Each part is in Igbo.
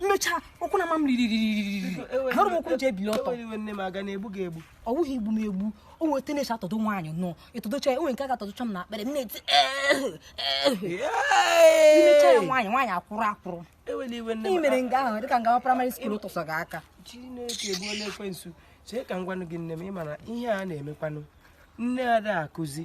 m mechaa ụkwụ na-ama m riririririri ahụrụ m ụkwụ m ji ebili ọtọ a ga na-egbu gị egbu ọ wụghị igbu m egbu o nwere otu a na-esi atọdo nwaanyị na ị tọdocha ya o nwere nke ị ga atọdocha m na akpịrị m na-eti i mechaa ya nwaanyị nwaanyị akwụrụ akwụrụ ị mere nga ahụ dịka nga nwa primary school tụsọ gị aka chineke gbuo ekwensu chee ka m gwanụ gị nne m ị ma na ihe a na-emekwanụ nne ada akụzi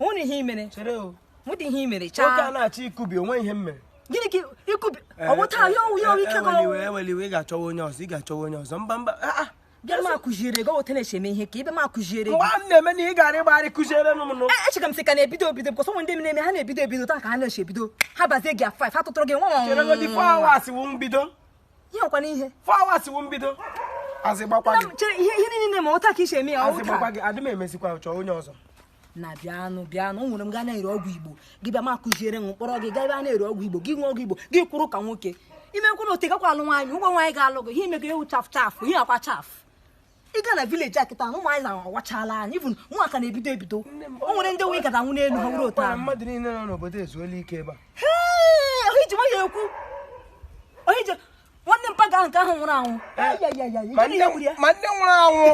nwere ihe i mere chere o nwere ihe i mere nwoke a chaa na-achọ ikubi o nwere ihe m mere gịnị ka ikubi ọ wụ taa ya ọ wụ ya ọ wụ ike gị ọ wụ ewela iwe ị ga-achọwa onye ọzọ ị ga-achọwa onye ọzọ mba mba ah, ah. bịa m akụziere gị otu a na-esi eme ihe ka ị bịa m akụziere gị mgbe a m na-eme na ị gara ịgbagharị kụziere m nụ E- echeka m sị ka na-ebido ebido because o nwere ndị m na-eme ha na-ebido ebido otu a ka ha na-esi ebido ha bazie gị a 5 ha tụtụrụ gị nwa nwa nwa nwa. cheregodi four hours wụ mbido ihe ọ kwa n'ihe four hours wụ mbido azị gbakwa gị chere ihe ihe niile na-eme otu a ka i si eme ya azị gbakwa gị adị m emezikwa chọọ onye ọzọ na bịanụ bịanụ e nwere nga a na-ere ọgwụ igbo gị bịa m akụziere m kpọrọ gị gaa ebe a na-ere ọgwụ igbo gị nwee ọgwụ igbo gị kwụrụ ka nwoke i mekwa na otu a ị gakwa alụ nwaanyị ụgwọ nwaanyị ga-alụ gị ihe i mego ewu chafụ chafụ ihe akwa chafụ ị gaa na village kịta na ụmụ nwaanyị awachala anya bụ ụmụaka na-ebido ebido o nwere ndị wụ ị ga-ada nwụọ n'elu ha were otu ahụ mmadụ niile nọ n'obodo ezuola ike ebe a onye ji nwayọ ekwu onye ji nwanne mpa ga nke ahụ nwụrụ anwụ ma ndị nwụrụ anwụ